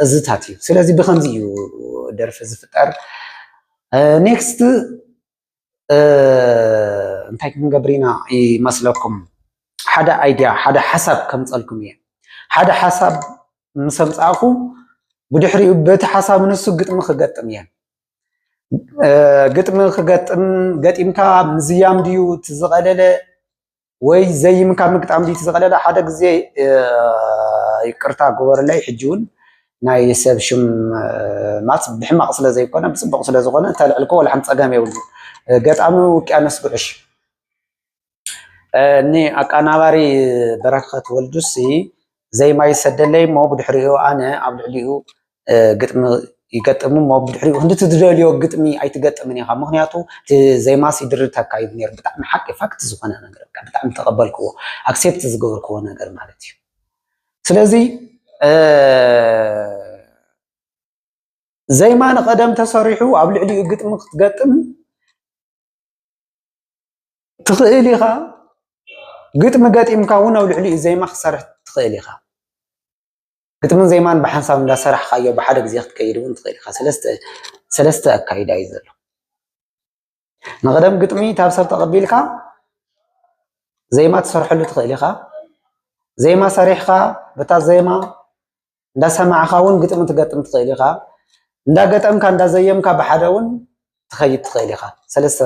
እዝታት እዩ። ስለዚ ብከምዚ እዩ ደርፊ ዝፍጠር። ኔክስት እንታይ ክንገብር ኢና ይመስለኩም? ሓደ ኣይድያ ሓደ ሓሳብ ከምፀልኩም እየ። ሓደ ሓሳብ ምስ ኣምፃእኩ ብድሕሪኡ በቲ ሓሳብ ንሱ ግጥሚ ክገጥም እየ። ግጥሚ ክገጥም ገጢምካ ምዝያም ድዩ እቲ ዝቐለለ ወይ ዘይም ካብ ምግጣም ድዩ ዝቐለለ? ሓደ ግዜ ይቅርታ ግበርለይ፣ ሕጂ እውን ናይ ሰብ ሽም ማፅ ብሕማቕ ስለ ዘይኮነ ብፅቡቕ ስለ ዝኾነ እንተልዕልኮ ወላ ሓንቲ ፀገም የብሉ። ገጣሚ ውቅያኖስ ጉዕሽ እኒ ኣቀናባሪ በረከት ወልዱሲ ዜማ ይሰደለይ እሞ ብድሕሪኡ ኣነ ኣብ ልዕሊኡ ግጥሚ ይገጥም እሞ ብድሕሪኡ ክንዲ ትደልዮ ግጥሚ ኣይትገጥምን ኢኻ ምክንያቱ እቲ ዜማስ ይድርተካ ይብል ነይሩ ብጣዕሚ ሓቂ ፋክት ዝኾነ ነገር ብጣዕሚ ተቐበልክዎ ኣክሴፕት ዝገበርክዎ ነገር ማለት እዩ ስለዚ ዘይማ ንቐደም ተሰሪሑ ኣብ ልዕሊኡ ግጥሚ ክትገጥም ትኽእል ኢኻ ግጥሚ ገጢምካ እውን ኣብ ልዕሊኡ ዜማ ክትሰርሕ ትኽእል ኢኻ ግጥምን ዜማን ብሓንሳብ እንዳሰራሕካዮ ብሓደ ግዜ ክትከይድ እውን ትኽእል ኢኻ ሰለስተ ኣካይዳ እዩ ዘሎ ንቐደም ግጥሚ ካብ ሰብ ተቐቢልካ ዜማ ትሰርሐሉ ትኽእል ኢኻ ዜማ ሰሪሕካ በታ ዜማ እንዳሰማዕኻ እውን ግጥሚ ትገጥም ትኽእል ኢኻ እንዳገጠምካ እንዳዘየምካ ብሓደ እውን ትኸይድ ትኽእል ኢኻ ሰለስተ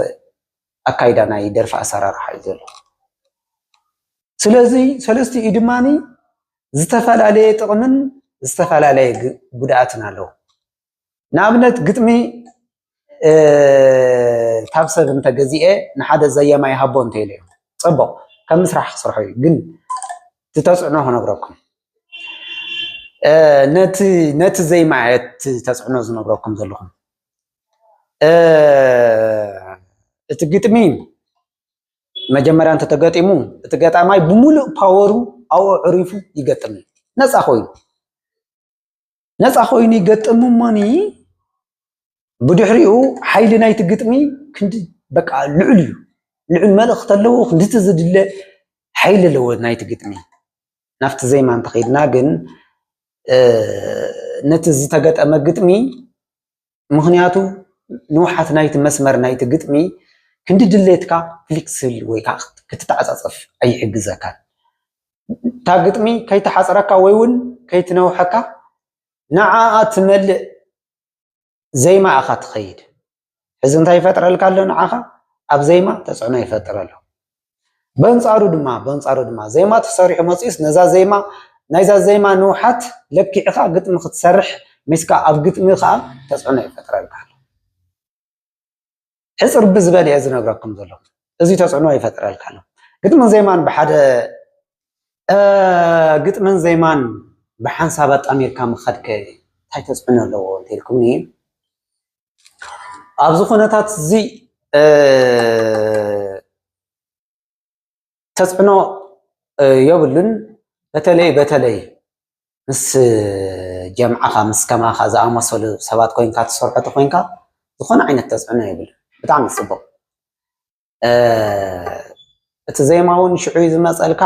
ኣካይዳ ናይ ደርፊ ኣሰራርሓ እዩ ዘሎ ስለዚ ሰለስቲኡ ድማ ዝተፈላለየ ጥቕምን ዝተፈላለየ ጉድኣትን ኣለዎ ንኣብነት ግጥሚ ካብ ሰብ እንተገዚኤ ንሓደ ዘየማ ይሃቦ እንተኢለ እዩ ፅቡቕ ከም ምስራሕ ክስርሖ እዩ ግን እቲ ተፅዕኖ ክነግረኩም ነቲ ዘይማ እቲ ተፅዕኖ ዝነግረኩም ዘለኹም እቲ ግጥሚ መጀመርያ እንተተገጢሙ እቲ ገጣማይ ብምሉእ ፓወሩ ኣብኡ ዕሪፉ ይገጥም ነፃ ኮይኑ ነፃ ኮይኑ ይገጥም እሞኒ ብድሕሪኡ ሓይሊ ናይቲ ግጥሚ ክንዲ በቃ ልዑል እዩ ልዑል መልእኽቲ ኣለዎ ክንድቲ ዝድለ ሓይሊ ኣለዎ ናይቲ ግጥሚ ናብቲ ዜማ እንተኸይድና ግን ነቲ ዝተገጠመ ግጥሚ ምኽንያቱ ንውሓት ናይቲ መስመር ናይቲ ግጥሚ ክንዲ ድሌትካ ፍሊክስብል ወይ ከዓ ክትተዓፃፀፍ ኣይሕግዘካን። እታ ግጥሚ ከይትሓፅረካ ወይ እውን ከይትነውሐካ ንዓኣ ትመልእ ዜማ ኢኻ ትኸይድ። ሕዚ እንታይ ይፈጥረልካ ኣሎ ንዓኻ? ኣብ ዜማ ተፅዕኖ ይፈጥር ኣሎ። በንጻሩ ድማ በንጻሩ ድማ ዜማ ተሰሪሑ መጺኡስ ነዛ ዜማ ናይዛ ዜማ ንውሓት ለኪዕኻ ግጥሚ ክትሰርሕ ሚስካ ኣብ ግጥሚ ከኣ ተጽዕኖ ይፈጥረልካ ኣሎ ሕጽር ብዝበል እየ ዝነግረኩም ዘለኹ እዚ ተጽዕኖ ይፈጥረልካ ኣሎ ግጥምን ዜማን ብሓደ ግጥምን ዜማን ብሓንሳብ ኣጣሚርካ ምኸድከ እንታይ ተፅዕኖ ኣለዎ እንተልኩምኒ ኣብዚ ኩነታት እዚ ተፅዕኖ የብሉን። በተለይ በተለይ ምስ ጀምዓኻ ምስ ከማኻ ዝኣመሰሉ ሰባት ኮይንካ ትሰርሖ ተኾይንካ ዝኾነ ዓይነት ተፅዕኖ የብሉን። ብጣዕሚ ፅቡቕ። እቲ ዜማ እውን ሽዑ እዩ ዝመፀልካ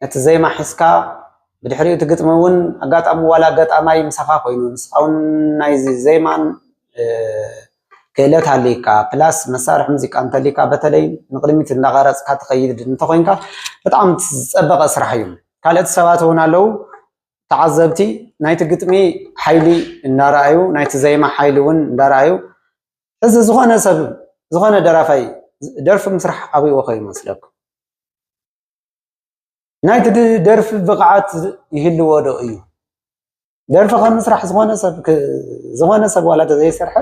ነቲ ዜማ ሒዝካ ብድሕሪ እቲ ግጥሚ እውን ኣጋጣሚ ዋላ ገጣማይ ምሳኻ ኮይኑ ንስኻ እውን ናይዚ ዜማን ክእለት ሃልይካ ፕላስ መሳርሒ ሙዚቃ እንተልይካ በተለይ ንቅድሚት እንዳቀረፅካ ትኸይድ እንተኮይንካ በጣም ዝፀበቀ ስራሕ እዩ ካልኦት ሰባት እውን ኣለው ተዓዘብቲ ናይቲ ግጥሚ ሓይሊ እንዳረኣዩ ናይቲ ዜማ ሓይሊ እውን እንዳረኣዩ ሕዚ ዝኾነ ሰብ ዝኾነ ደራፋይ ደርፊ ምስራሕ ኣብይዎ ከ ይመስለኩም ናይቲ ደርፊ ብቕዓት ይህልዎ ዶ እዩ ደርፊ ከም ምስራሕ ዝኾነ ሰብ ዝኾነ ሰብ ዋላ ተዘይሰርሐ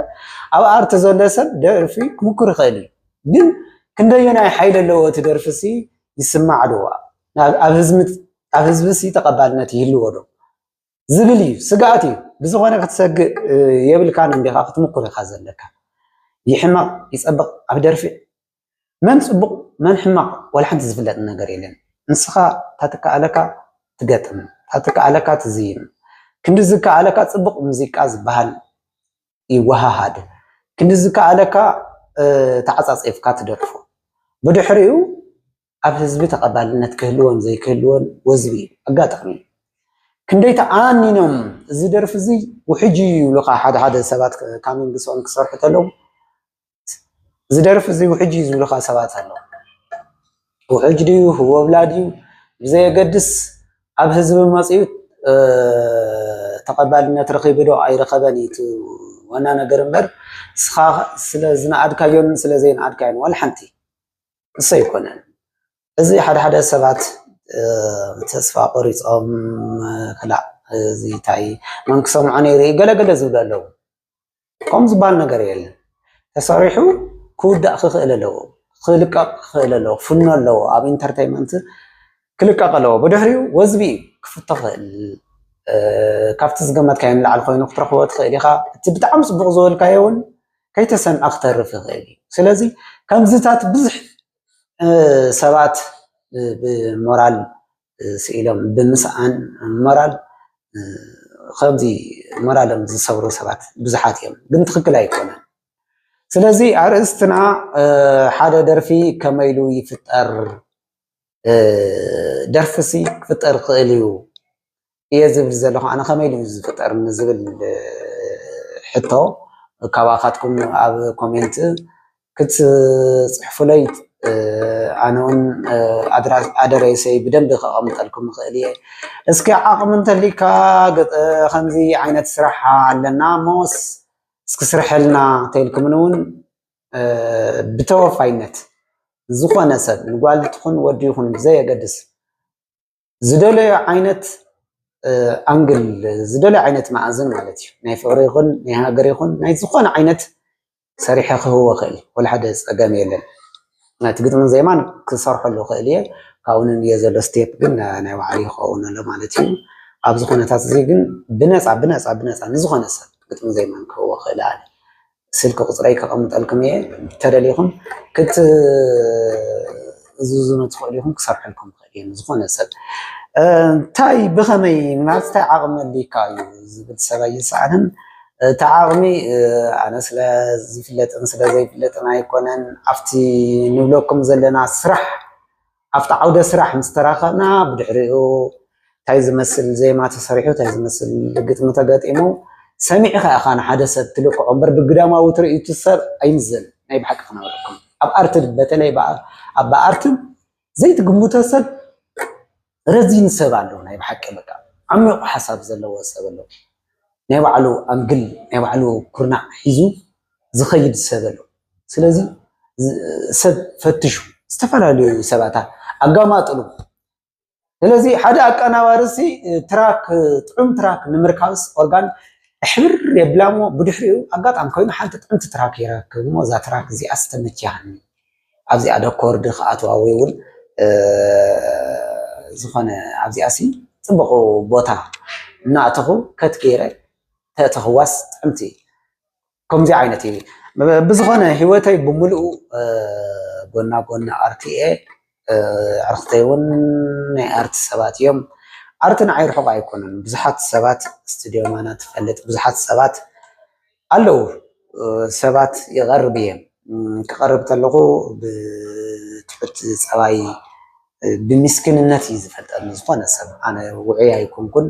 ኣብ ኣርቲ ዘሎ ሰብ ደርፊ ክምኩር ይኽእል እዩ ግን ክንደየናይ ሓይሊ ኣለዎ እቲ ደርፊ ሲ ይስማዕ ዶ ኣብ ህዝቢ ሲ ተቐባልነት ይህልዎ ዶ ዝብል እዩ ስግኣት እዩ ብዝኾነ ክትሰግእ የብልካን እንዲኻ ክትምኩር ኢኻ ዘለካ ይሕመቕ ይፀብቕ ኣብ ደርፊ መን ፅቡቕ መን ሕማቕ ዋላ ሓንቲ ዝፍለጥ ነገር የለን ንስኻ ታትከኣለካ ትገጥም ታትከኣለካ ትዝይም ክንዲ ዝከኣለካ ፅቡቕ ሙዚቃ ዝበሃል ይወሃሃድ ክንዲ ዝከኣለካ ተዓፃፂፍካ ትደርፎ ብድሕሪኡ ኣብ ህዝቢ ተቐባልነት ክህልዎን ዘይክህልዎን ወዝቢ እዩ፣ ኣጋጣሚ እዩ። ክንደይ ተኣሚኖም እዚ ደርፊ እዚ ውሕጅ እዩ ይብሉኻ ሓደ ሓደ ሰባት ካሚን ብስኦም ክሰርሑ ተለዉ እዚ ደርፊ እዚ ውሕጅ እዩ ዝብሉኻ ሰባት ኣለዉ። ውሕጅ ድዩ ህወብላ ድዩ ብዘየገድስ ኣብ ህዝቢ መፅኡ ተቐባልነት ረኺቡ ዶ ኣይረኸበን እዩ ዋና ነገር እምበር እስኻ ስለ ዝነኣድካዮን ስለ ዘይነኣድካዮን ዋላ ሓንቲ እሱ ኣይኮነን እዚ ሓደ ሓደ ሰባት ተስፋ ቆሪፆም ክላእ እዚ እንታይ መን ክሰምዖ ነይሩ እዩ ገለ ገለ ዝብሉ ኣለዉ። ከምኡ ዝበሃል ነገር የለን። ተሰሪሑ ክውዳእ ክኽእል ኣለዎ፣ ክልቀቕ ክኽእል ኣለዎ፣ ክፍኖ ኣለዎ፣ ኣብ ኢንተርቴይመንት ክልቀቕ ኣለዎ። ብድሕሪኡ ወዝቢ እዩ ክፍቶ ክኽእል ካብቲ ዝገመትካዮ ንላዕሊ ኮይኑ ክትረኽቦ ትኽእል ኢኻ። እቲ ብጣዕሚ ፅቡቕ ዝበልካዮ እውን ከይተሰምዐ ክተርፍ ይኽእል እዩ ስለዚ ከምዚታት ብዙሕ ሰባት ብሞራል ስኢሎም ብምስኣን ሞራል ከምዚ ሞራሎም ዝሰብሩ ሰባት ብዙሓት እዮም ግን ትክክል ኣይኮነን ስለዚ ኣርእስትና ሓደ ደርፊ ከመይሉ ይፍጠር ደርፊ ሲ ክፍጠር ይክእል እዩ እየ ዝብል ዘለኩ ኣነ ከመይ ኢሉ እዩ ዝፍጠር ንዝብል ሕቶ ካባካትኩም ኣብ ኮሜንት ክትፅሕፉለይ ኣነ እውን ኣደራይሰይ ብደንቢ ከቀምጠልኩም ይክእል እየ እስኪ ዓቅሚ እንተልይካ ከምዚ ዓይነት ስራሕ ኣለና እሞ እስኪ ስርሐልና እንተልኩምኒ እውን ብተወፋይነት ዝኾነ ሰብ ንጓል ትኹን ወዲ ይኹን ብዘየገድስ ዝደለዮ ዓይነት ኣንግል ዝደለዮ ዓይነት መኣዝን ማለት እዩ ናይ ፍቅሪ ይኹን ናይ ሃገር ይኹን ናይ ዝኾነ ዓይነት ሰሪሐ ክህቦ ክእል ወላ ሓደ ፀገም የለን። ነቲ ግጥምን ዜማን ክሰርሐሉ ክእል እየ ካብኡ ንንየ ዘሎ ስቴፕ ግን ናይ ባዕሉ ይኸውን ኣሎ ማለት እዩ። ኣብዚ ኩነታት እዚ ግን ብነፃ ብነፃ ብነፃ ንዝኾነ ሰብ ግጥምን ዜማን ክህቦ ክእል ኣነ ስልኪ ቁፅረይ ከቀምጠልኩም እየ ተደሊኩም ክትእዝዙኒ ትክእሉ ኢኩም ክሰርሐልኩም ይክእል እየ ንዝኮነ ሰብ እንታይ ብከመይ ምናልባት እንታይ ዓቅሚ ኣልካ እዩ ዝብል ሰብ ኣይሰኣንን እቲ ዓቅሚ ኣነ ስለ ዝፍለጥን ስለ ዘይፍለጥን ኣይኮነን ኣብቲ ንብለኩም ዘለና ስራሕ ኣብቲ ዓውደ ስራሕ ምስ ተራኸብና ብድሕሪኡ ታይ ዝመስል ዜማ ተሰሪሑ ታይ ዝመስል ግጥሚ ተገጢሙ ሰሚዕኻ ኢኻ ንሓደ ሰብ ትልክዖ እምበር ብግዳማዊ ትርኢቱ ሰብ ኣይምዘንን ናይ ብሓቂ ክነግረኩም ኣብ ኣርቲ በተለይ ኣብ ኣርቲ ዘይትግምቶ ሰብ ረዚን ሰብ ኣሎ ናይ ብሓቂ በቃ ዓሚቑ ሓሳብ ዘለዎ ሰብ ኣሎ ናይ ባዕሉ ኣንግል ናይ ባዕሉ ኩርናዕ ሒዙ ዝኸይድ ሰብ ኣሎ ስለዚ ሰብ ፈትሹ ዝተፈላለዩ ሰባት ኣጋማጥሉ ስለዚ ሓደ ኣቀናባሪ ሲ ትራክ ጥዑም ትራክ ንምርካብስ ኦርጋን ሕብር የብላ እሞ ብድሕሪኡ ኣጋጣሚ ኮይኑ ሓንቲ ጥዕምቲ ትራክ ይረክብ እሞ እዛ ትራክ እዚኣ ስተመችያኒ ኣብዚኣ ዶ ኮርዲ ክኣትዋ ወይ እውን ዝኾነ ኣብዚኣ ሲ ፅቡቕ ቦታ እናእተኹ ከት ገይረ ተእተኽዋስ ጥዕምቲ ከምዚ ዓይነት እዩ ብዝኾነ ሂወተይ ብምልኡ ጎና ጎኒ ኣርት እየ ኣዕርኽተይ ውን ናይ ኣርት ሰባት እዮም ኣርት ንዓይ ርሑቅ ኣይኮነን ብዙሓት ሰባት ስትድዮ ማና ትፈልጥ ብዙሓት ሰባት ኣለዉ ሰባት ይቀርብ እየ ክቀርብ ከለኹ ብትሑት ፀባይ ብሚስክንነት እዩ ዝፈልጠኒ ዝኾነ ሰብ ኣነ ውዑይ ኣይኮንኩን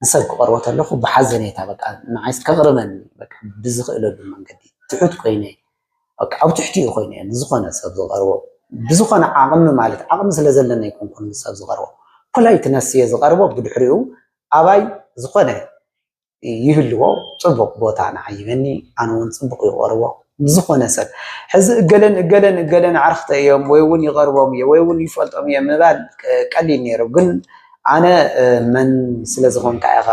ንሰብ ክቀርቦ ተለኩ ብሓዘኔታ በቃ ንዓይስ ከቅርበኒ በቃ ብዝክእለሉ መንገዲ ትሑት ኮይነ በቃ ኣብ ትሕቲኡ ኮይነ እየ ንዝኮነ ሰብ ዝቀርቦ ብዝኮነ ዓቅሚ ማለት ዓቅሚ ስለ ዘለኒ ኣይኮንኩን ንሰብ ዝቀርቦ ፖላይትነስ እየ ዝቀርቦ ብድሕሪኡ ኣባይ ዝኾነ ይህልዎ ፅቡቅ ቦታ ንዓይበኒ ኣነ እውን ፅቡቅ ይቀርቦ ዝኾነ ሰብ ሕዚ እገለን እገለን እገለን ዓርክተ እዮም ወይ እውን ይቀርቦም እየ ወይ እውን ይፈልጦም እየ ምባል ቀሊል ነይሩ ግን ኣነ መን ስለ ዝኾንካ ኢኻ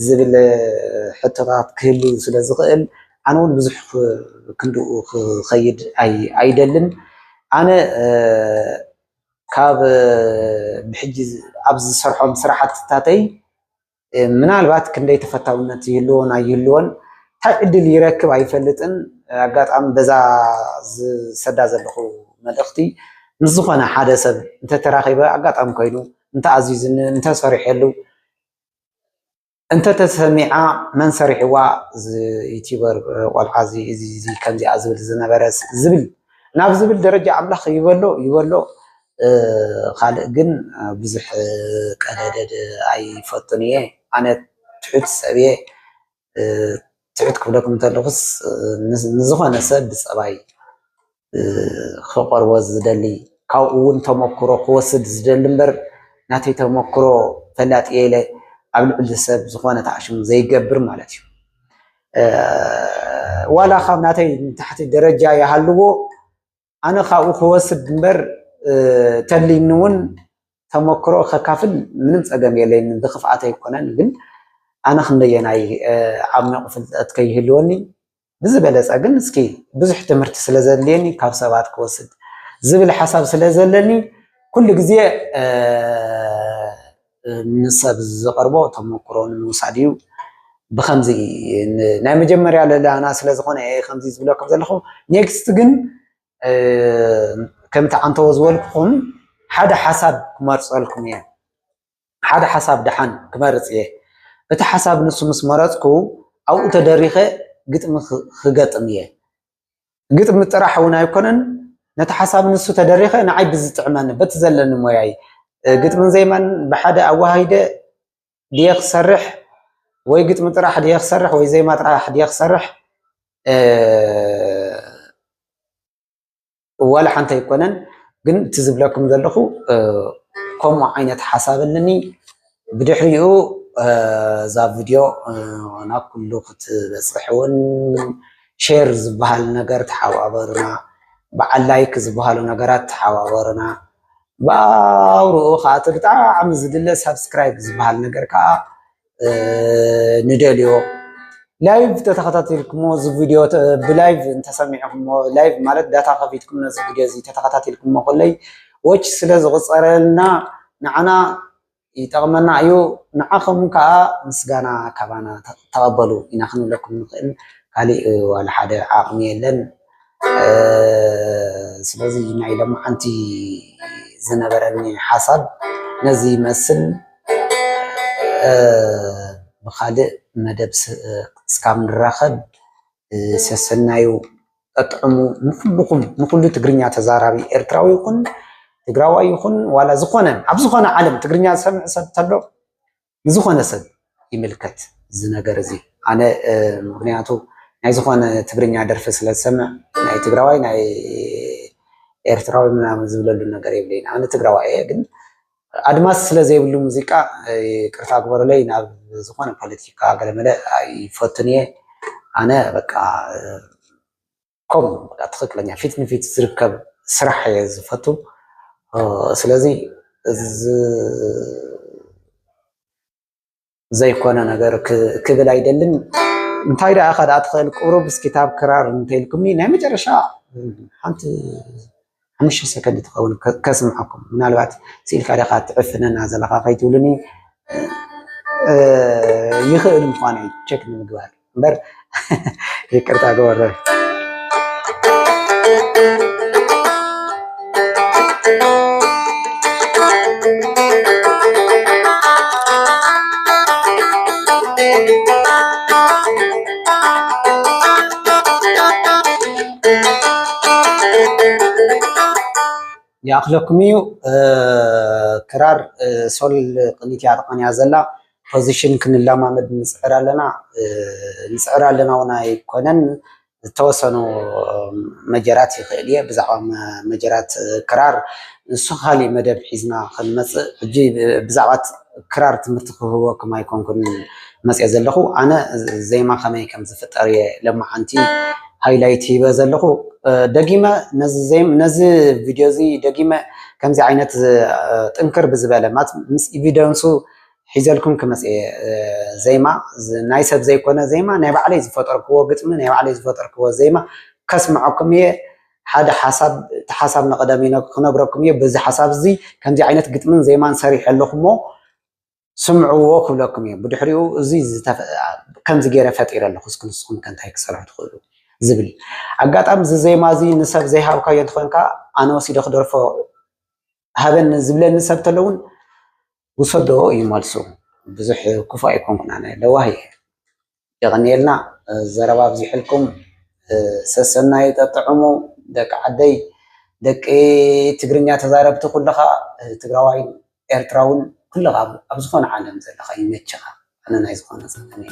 ዝብል ሕቶታት ክህሉ ስለ ዝኽእል ኣነ እውን ብዙሕ ክንድኡ ክኸይድ ኣይደልን ኣነ ካብ ብሕጂ ኣብ ዝሰርሖም ስራሕትታተይ ምናልባት ክንደይ ተፈታውነት ይህልዎን ኣይህልዎን እንታይ ዕድል ይረክብ ኣይፈልጥን። ኣጋጣሚ በዛ ዝሰዳ ዘለኹ መልእኽቲ ምስ ዝኾነ ሓደ ሰብ እንተተራኺበ ኣጋጣሚ ኮይኑ እንተኣዚዙኒ እንተሰሪሐሉ እንተተሰሚዓ መን ሰሪሕዋ ዩቲበር ቆልዓ እዚ እዚ ከምዚኣ ዝብል ዝነበረ ዝብል ናብ ዝብል ደረጃ ኣምላኽ ይበሎ ይበሎ ካልእ ግን ብዙሕ ቀደደድ ኣይፈቱን እየ ኣነ ትሑት ሰብ እየ ትሑት ክብለኩም እንተለኹስ ንዝኾነ ሰብ ብፀባይ ክቐርቦ ዝደሊ ካብኡ እውን ተመክሮ ክወስድ ዝደሊ እምበር ናተይ ተመክሮ ፈላጥ እየ ኢለ ኣብ ልዕሊ ሰብ ዝኾነ ተዓሽሙ ዘይገብር ማለት እዩ ዋላ ካብ ናተይ ንታሕቲ ደረጃ ይሃልዎ ኣነ ካብኡ ክወስድ እምበር ተልዩኒ እውን ተመክሮ ከካፍል ምንም ፀገም የለይን፣ ብክፍኣት ኣይኮነን። ግን ኣነ ክንደየናይ ዓሚቝ ፍልጠት ከይህልወኒ ብዝበለፀ ግን እስኪ ብዙሕ ትምህርቲ ስለ ዘድልየኒ ካብ ሰባት ክወስድ ዝብል ሓሳብ ስለ ዘለኒ ኩሉ ግዜ ንሰብ ዝቐርቦ ተመኩሮ ንምውሳድ እዩ። ብኸምዚ ናይ መጀመርያ ለለና ስለ ዝኾነ እየ ከምዚ ዝብለኩም ዘለኹ። ኔክስት ግን ከምቲ ዓንተቦ ዝበልኩኹም ሓደ ሓሳብ ክመርጸልኩም እየ። ሓደ ሓሳብ ደሓን ክመርጽ እየ። እቲ ሓሳብ ንሱ ምስ መረጽኩ ኣብኡ ተደሪኸ ግጥሚ ክገጥም እየ። ግጥሚ ጥራሕ እውን ኣይኮነን ነቲ ሓሳብ ንሱ ተደሪኸ ንዓይ ብዝጥዕመኒ በቲ ዘለኒ ሞያይ ግጥምን ዜማን ብሓደ ኣወሃሂደ ድየ ክሰርሕ ወይ ግጥሚ ጥራሕ ድየ ክሰርሕ ወይ ዜማ ጥራሕ ድየ ክሰርሕ ዋላ ሓንቲ ኣይኮነን ግን እቲ ዝብለኩም ዘለኹ ከምኡ ዓይነት ሓሳብ ኣለኒ ብድሕሪኡ እዛ ቪድዮ ናብ ኩሉ ክትበፅሕ እውን ሼር ዝበሃል ነገር ተሓባበሩና በዓል ላይክ ዝበሃሉ ነገራት ተሓባበሩና ብኣውርኡ ከዓ እቲ ብጣዕሚ ዝድለ ሳብስክራይብ ዝበሃል ነገር ከዓ ንደልዮ ላይቭ ተተኸታቲልክሞ እዚ ቪድዮ ብላይቭ እንተሰሚዕክሞ ላይቭ ማለት ዳታ ከፊትኩም ነዚ ቪድዮ እዚ ተተኸታቲልክሞ ኮለይ ዎች ስለ ዝቑፀረልና ንዓና ይጠቕመና እዩ ንዓኹም ከዓ ምስጋና ካባና ተቐበሉ ኢና ክንብለኩም ንኽእል ካሊእ ዋላ ሓደ ዓቕሚ የለን ስለዚ ናይ ሎምዓንቲ ዝነበረኒ ሓሳብ ነዚ ይመስል ብካልእ መደብ እስካብ ንራከብ ሰሰናዩ ጠጥዑሙ ንኩሉኩም ንኩሉ ትግርኛ ተዛራቢ ኤርትራዊ ይኩን ትግራዋይ ይኩን ዋላ ዝኮነ ኣብ ዝኮነ ዓለም ትግርኛ ዝሰምዕ ሰብ ተሎ ንዝኾነ ሰብ ይምልከት እዚ ነገር እዚ ኣነ ምኽንያቱ ናይ ዝኾነ ትግርኛ ደርፊ ስለ ዝሰምዕ ናይ ትግራዋይ ናይ ኤርትራዊ ምናምን ዝብለሉ ነገር የብለይን ኣነ ትግራዋይ እየ ግን ኣድማስ ስለ ዘይብሉ ሙዚቃ ቅርታ ግበሩለይ ናብ ዝኾነ ፖለቲካ ገለመለ ኣይፈቱን እየ ኣነ በቃ ከምኡ በቃ ትክክለኛ ፊት ንፊት ዝርከብ ስራሕ እየ ዝፈቱ ስለዚ ዘይኮነ ነገር ክብል ኣይደልን እንታይ ደኣ ኢካ ደኣ ትክእል ቁሩብ እስኪ ታብ ክራር እንተልኩምኒ ናይ መጨረሻ ሓንቲ ሓሙሽተ ሰከንድ ትኸውን ከስምዓኩም ምናልባት ስኢልካ ዲኻ ትዕፍነና ዘለኻ ከይትብሉኒ ይኽእል ምዃኑ እዩ ቸክ ንምግባር እምበር ይቅርታ ግበረ ይኣኽለኩም እዩ ክራር ሶል ቅኒት እያ ተቐንያ ዘላ ፖዚሽን ክንለማመድ ንፅዕር ኣለና ንፅዕር ኣለና እውን ኣይኮነን ዝተወሰኑ መጀራት ይኽእል እየ ብዛዕባ መጀራት ክራር ንሱ ካሊእ መደብ ሒዝና ክንመፅእ ሕጂ ብዛዕባ ክራር ትምህርቲ ክህበኩም ኣይኮንኩን መጽየ ዘለኩ ኣነ ዜማ ከመይ ከም ዝፍጠር እየ ለማዓንቲ ሃይላይት ሂበ ዘለኩ ደጊመ ነዚ ቪድዮ እዚ ደጊመ ከምዚ ዓይነት ጥንክር ብዝበለ ምስ ኢቪደንሱ ሒዘልኩም ክመጽ እየ ዜማ ናይ ሰብ ዘይኮነ ዜማ ናይ ባዕለይ ዝፈጠርክዎ ግጥሚ ናይ ባዕለይ ዝፈጠርክዎ ዜማ ከስምዐኩም እየ ሓደ ሓሳብ እቲ ሓሳብ ንቐደም ክነግረኩም እየ በዚ ሓሳብ እዚ ከምዚ ዓይነት ግጥምን ዜማን ሰሪሐ ኣለኹ እሞ ስምዕዎ ክብለኩም እየ ብድሕሪኡ እዚ ከምዚ ገይረ ፈጢረ ኣለኹ እስኪ ንስኹም ከ እንታይ ክሰርሑ ትኽእሉ ዝብል ኣጋጣሚ እዚ ዜማ እዚ ንሰብ ዘይሃብካዮ እንትኾንካ ኣነ ወሲደ ክደርፎ ሃበኒ ዝብለኒ ሰብ ተሎ እውን ውሰዶ እዩ መልሱ። ብዙሕ ክፉእ ኣይኮንኩን ኣነ ለዋህ እየ። የቐንየልና ዘረባ ኣብዚሕልኩም ሰሰናዩ ጠጥዕሙ ደቂ ዓደይ ደቂ ትግርኛ ተዛረብቲ ኩልኻ ትግራዋይን ኤርትራውን ኩልኻ ኣብ ዝኾነ ዓለም ዘለኻ ይመችኻ። ኣነ ናይ ዝኾነ ጸገም እየ